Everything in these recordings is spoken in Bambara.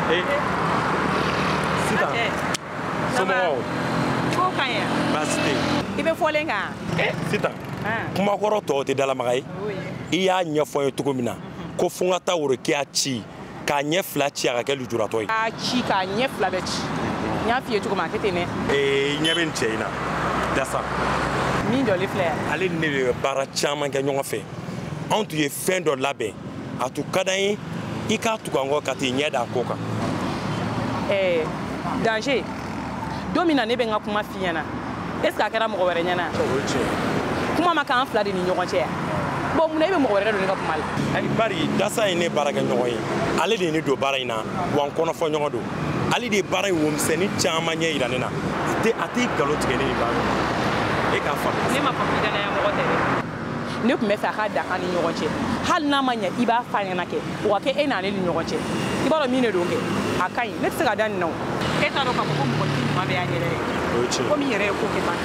Eh. Sitan. Eh. Somɔgɔw. Ko ka ɲi. Baasi tɛ yen. I bɛ fɔlen kan. Eh, Sitan. Kumakɔrɔ tɔw tɛ dalamaga ye. I y'a ɲɛfɔ n ye cogo min na ko fo n ka taa Worokiya ci k'a ɲɛ fila ci a ka kɛ lujuratɔ ye k'a ci k'a ɲɛ fila bɛɛ ci n y'a f'i ye cogo min a kɛ ten dɛ ee ɲɛ bɛ n cɛ in na dasa min jɔlen filɛ yan ale ni ne de bɛ baara caman kɛ ɲɔgɔn fɛ anw tun ye fɛn dɔ labɛn a tun ka d'an ye i k'a tugu an kɔ ka t'i ɲɛ da a ko kan ɛɛ danger don min na ne bɛ n ka kuma f'i ɲɛna est ce que a kɛra mɔgɔ wɛrɛ ɲɛna kuma ma k'an fila de ni ɲɔgɔn cɛ yan bon mun na e bɛ mɔgɔ wɛrɛ don ne ka kuma la ayi bari dasa ye ne baarakɛ ɲɔgɔn ye ale de ye ne don baara in na wa n kɔnɔfɔ ɲɔgɔn don ale de ye baara in womisɛnnin caman ɲɛ yira ne na a tɛ a tɛ nkalon tigɛ ne ye baara e k'a faamu ne ma faamu danaya mɔgɔ tɛ dɛ ne tun bɛ fɛ a ka dan an ni ɲɔgɔn cɛ hali n'a ma ɲɛ i b'a f'a ɲɛna kɛ o ka kɛ e n'ale ni ɲɔgɔn cɛ i b'a dɔn min de don kɛ a ka ɲi ne tɛ se ka da nin na o e t'a dɔn k'a fɔ ko mɔgɔ t'i ɲuman bɛ y'a yɛrɛ ye komi yɛrɛ ye ko kɛ ban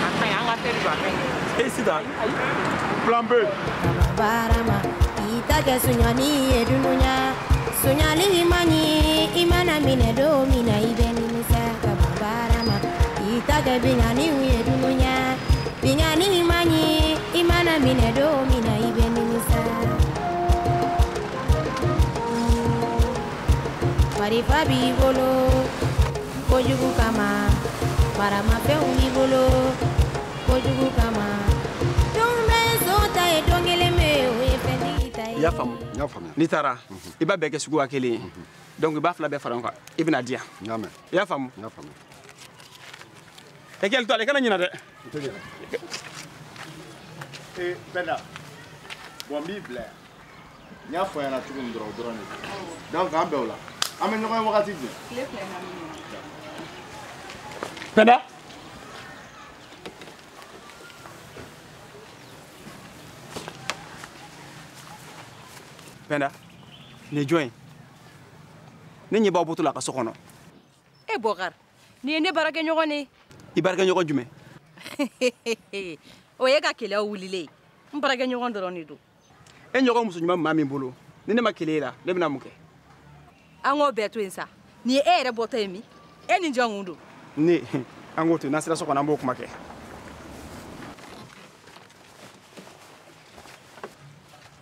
a ka ɲi an ka fɛn jɔ a ka ɲi e sitan plan b baarama i ta kɛ sonyani ye dunuya sonyali man ɲi i mana minɛ don min na i bɛ nimisa ka baarama i ta kɛ binkanni ye dunuya Binkanni man ɲi i mana minɛ don min na i bɛ nimisa marifa b'i bolo kojugu kama maramafɛnw b'i bolo kojugu kama don bɛɛ son ta ye don kelen pe o ye fɛntigi ta ye. i y'a faamu n'i taara i b'a bɛɛ kɛ suguya kelen ye donc i b'a fila bɛɛ fara ɲɔgɔn kan i bɛ n'a di yan i y'a faamu. i hakili to a la kana ɲina dɛ e penda bon n b'i bila n y'a fɔ i ɲɛna cogo min dɔrɔn o dɔrɔn de donc an bɛ o la an bɛ ɲɔgɔn ye wagati jumɛn penda penda nin ye jɔn ye ne ɲɛ b'aw bɔtɔ la a ka so kɔnɔ e bɔkari nin ye ne baarakɛɲɔgɔn ye i baarakɛɲɔgɔn jumɛn o y'i ka keleya wulilen ye n baarakɛɲɔgɔn dɔrɔn de don e ɲɔgɔn muso ɲuman maa min bolo ni ne ma keleya i la ne bɛna mun kɛ an k'o bɛɛ to yen sa nin ye e yɛrɛ bɔtɔ ye min e ni jɔn tun don ne an k'o to yen n'an sera so kɔnɔ an b'o kuma kɛ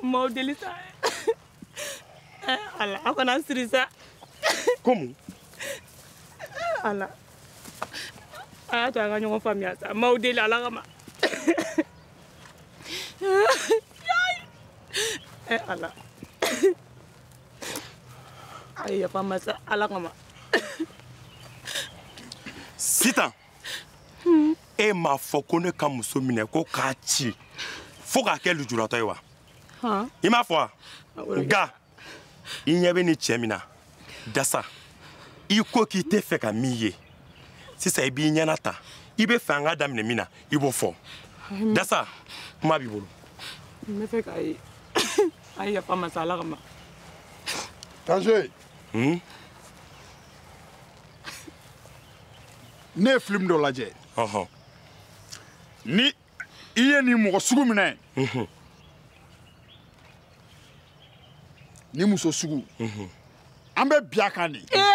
N b'aw deli sa ala aw kana n siri sa komi ala a y'a to an ka ɲɔgɔn faamuya sa n b'aw deli ala kama ala a ye yafa n ma sa ala kama sitan hmm. e m'a fɔ ko ne ka muso minɛ ko k'a ci fo k'a kɛ lujuratɔ ye wa i m'a fɔ wa nka i ɲɛ bɛ ni cɛ min na dasa i ko k'i tɛ fɛ ka min ye sisan i b'i ɲɛna ta i bɛ fɛ an ka daminɛ min na i b'o fɔ dasa kuma b'i bolo n bɛ fɛ k'a ye a ye yafa n ma sa ala kama danger hmm? ne ye film dɔ lajɛ ni i ye nin mɔgɔ sugu minɛ mhm. nin muso sugu mhm. an bɛ bin a kan de eh!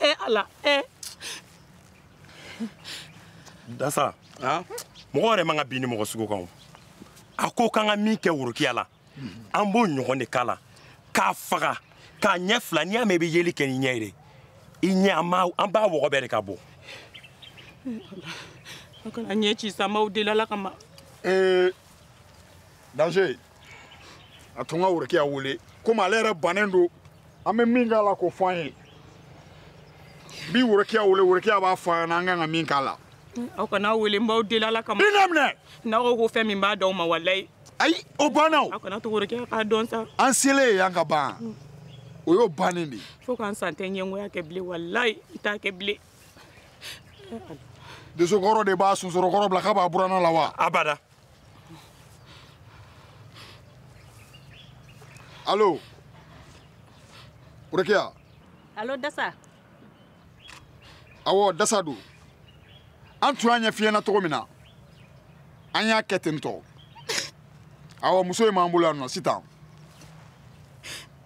e ala e dasa mɔgɔ yɛrɛ man ka bin nin mɔgɔ sugu kan a ko k'an ka min kɛ worokiya la an b'o ɲɔgɔn de k'a la k'a faga k'a ɲɛ fila n'i y'a mɛn i bɛ yeli kɛ ni ɲɛ ye de i ɲɛ an b'a wɔgɔbɛ de ka bɔ a kana n ɲɛ ci sa n b'aw deli ala kama ee danger a to n ka worokiya wele komi ale yɛrɛ bannen don an bɛ min k'a la k'o fɔ an ye bi worokiya wele worokiya b'a fɔ an ɲɛna an kan ka min k'a la aw kan'a wele n b'aw deli ala kama i na minɛ n'aw ko ko fɛn min n b'a d'aw ma walayi ayi o banna o aw kan'a to worokiya k'a dɔn sa an selen ye yan ka ban mm. o y'o bannen de ye fo ka n sa n tɛ ɲɛngoya kɛ bilen walayi n t'a kɛ bilen dosokɔrɔ de b'a sonsoro kɔrɔ bila k'a b'a buranna la wa abada Alo. Worokiya. Alo Dasa. Awɔ Dasa don. An tun y'a ɲɛf'i ɲɛna cogo min na. An y'a kɛ ten tɔ. Awɔ muso in b'an bolo yan nɔ sitan.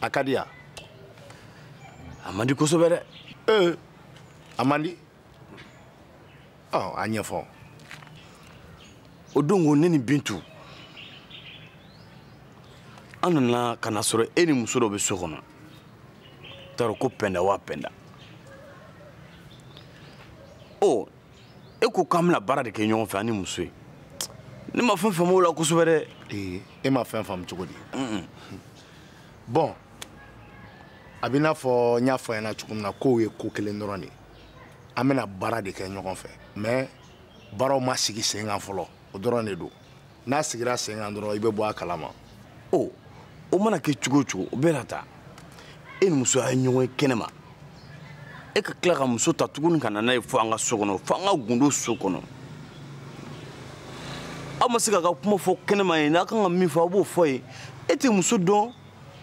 a ka di yan a man di kosɛbɛ dɛ ee a man di ɔ a ɲɛfɔ o don ko ne ni bintu an nana ka na sɔrɔ e ni muso dɔ bɛ so kɔnɔ n t'a dɔn ko pɛnda wa pɛnda ɔ e ko k'an bɛna baara de kɛ ɲɔgɔn fɛ an ni muso ye ne ma fɛn faamu o la kosɛbɛ dɛ ee e ma fɛn faamu cogo di bɔn a b'i n'a fɔ n y'a f'a ɲɛna cogo min na k'o ye ko kelen dɔrɔn de ye an bɛna baara de kɛ ɲɔgɔn fɛ mɛ baaraw ma sigi sen kan fɔlɔ o dɔrɔn de don n'a sigira sen kan dɔrɔn i bɛ bɔ a kalama o o mana kɛ cogo o cogo o bɛɛ n'a ta e ni muso a ye ɲɔgɔn ye kɛnɛma e ka tila ka muso ta tuguni ka na n'a ye fo an ka so kɔnɔ fo an ka gundo so kɔnɔ aw ma se k'a ka kuma fɔ kɛnɛma yen a kan ka min fɔ aw b'o fɔ yen e tɛ muso dɔn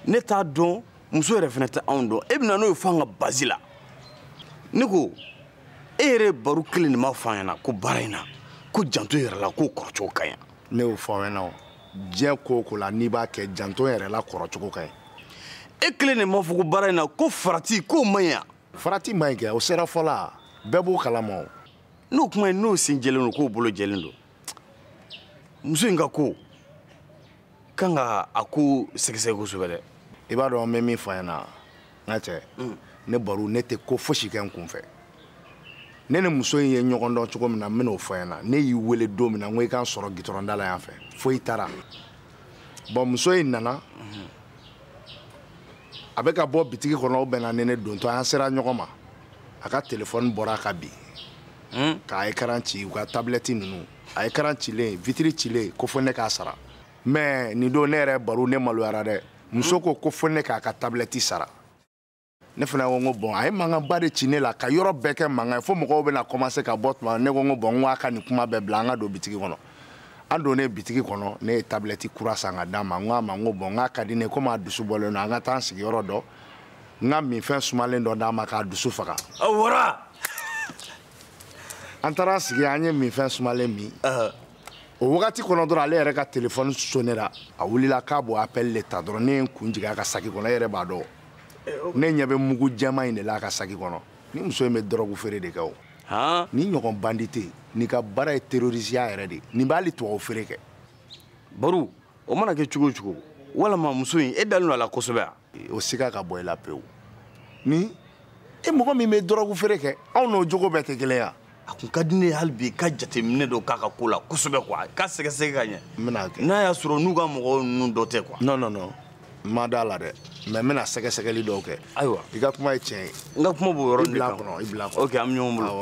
ne t'a dɔn muso yɛrɛ fana tɛ anw dɔn e bɛna n'o ye fo an ka bazi la ne ko e yɛrɛ baro kelen de m'a fɔ an ɲɛna ko baara in na ko janto yɛrɛ la k'o kɔrɔcogo ka ɲi ne y'o fɔ aw ɲɛna o diɲɛ ko o ko la n'i b'a kɛ janto yɛrɛ la kɔrɔcogo ka ɲi e kelen de m'a fɔ ko baara in na ko farati k'o man ɲi yan farati man ɲi kɛ o sera fɔla bɛɛ b'o kalama o n'o kuma ye n'o sen jɛlen don k'o bolo jɛlen don muso in ka ko kan ka a ko sɛgɛsɛgɛ kosɛbɛ dɛ i b'a dɔn n bɛ min fɔ i ɲɛna n ka cɛ mm. ne baro ne tɛ ko fosi kɛ n kun fɛ ne ni muso in ye ɲɔgɔn dɔn cogo min na n bɛn'o fɔ i ɲɛna ne y'i wele don min na n ko i k'an sɔrɔ gitɔrɔnda la yan fɛ fo i taara bɔn muso in nana mm-hmm. a bɛ ka bɔ bitigi kɔnɔ o bɛnna ni ne dontɔ an sera ɲɔgɔn ma a ka telefɔni bɔra ka bin hmm? k'a ekaran ci u ka tabilɛti ninnu a ekaran cilen vitiri cilen ko fo ne k'a sara mɛ nin don ne yɛrɛ baro ne maloyara dɛ muso ko ko fo ne k'a ka tabilɛti sara ne fana ko n ko bɔn a ye mankanba de ci ne la ka yɔrɔ bɛɛ kɛ mankan ye fo mɔgɔw bɛna kɔmanse ka bɔ tuma ne ko n ko bɔn n ko a ka nin kuma bɛɛ bila an ka don bitigi kɔnɔ an donnen bitigi kɔnɔ ne ye tabilɛti kura san ka d'a ma n ko a ma n ko bɔn n k'a ka di ne komi a dusu bɔlen don an ka taa an sigi yɔrɔ dɔ n ka minfɛn sumalen dɔ d'a ma k'a dusu faga. a wara. an taara sigi an ye minfɛn sumalen min o wagati kɔnɔ dɔrɔn ale yɛrɛ ka telefɔni sonera a wulila k'a b'o apɛli de ta dɔrɔn ne ye n kun jigin a ka saki kɔnɔ e yɛrɛ b'a dɔn eh, ne ɲɛ bɛ mugu jɛman in de la a ka saki kɔnɔ nin muso in bɛ dɔrɔgu feere de kɛ o nin ɲɔgɔn bandi tɛ yen nin ka baara ye terorisiya yɛrɛ de nin b'ale tubabu feere kɛ baro o mana kɛ cogo o cogo walama muso in e dalen don a la kosɛbɛ wa o siga ka bɔ i la pewu ni e mɔgɔ min bɛ dɔrɔgu feere kɛ anw n'o jogo bɛɛ tɛ kelen ye a kun ka di ne ye hali bi ka jateminɛ dɔ k'a ka ko la kosɛbɛ kuwa ka sɛgɛsɛgɛ ka ɲɛ n bɛna kɛ n'a y'a sɔrɔ n'u ka mɔgɔw ninnu dɔ tɛ kuwa non non non n ma d'a la dɛ mɛ n bɛna sɛgɛsɛgɛli dɔw kɛ ayiwa i ka kuma ye tiɲɛ ye n ka kuma b'o yɔrɔ de kan kɔnɔ i bila kɔnɔ ok an bɛ ɲɔgɔn bolo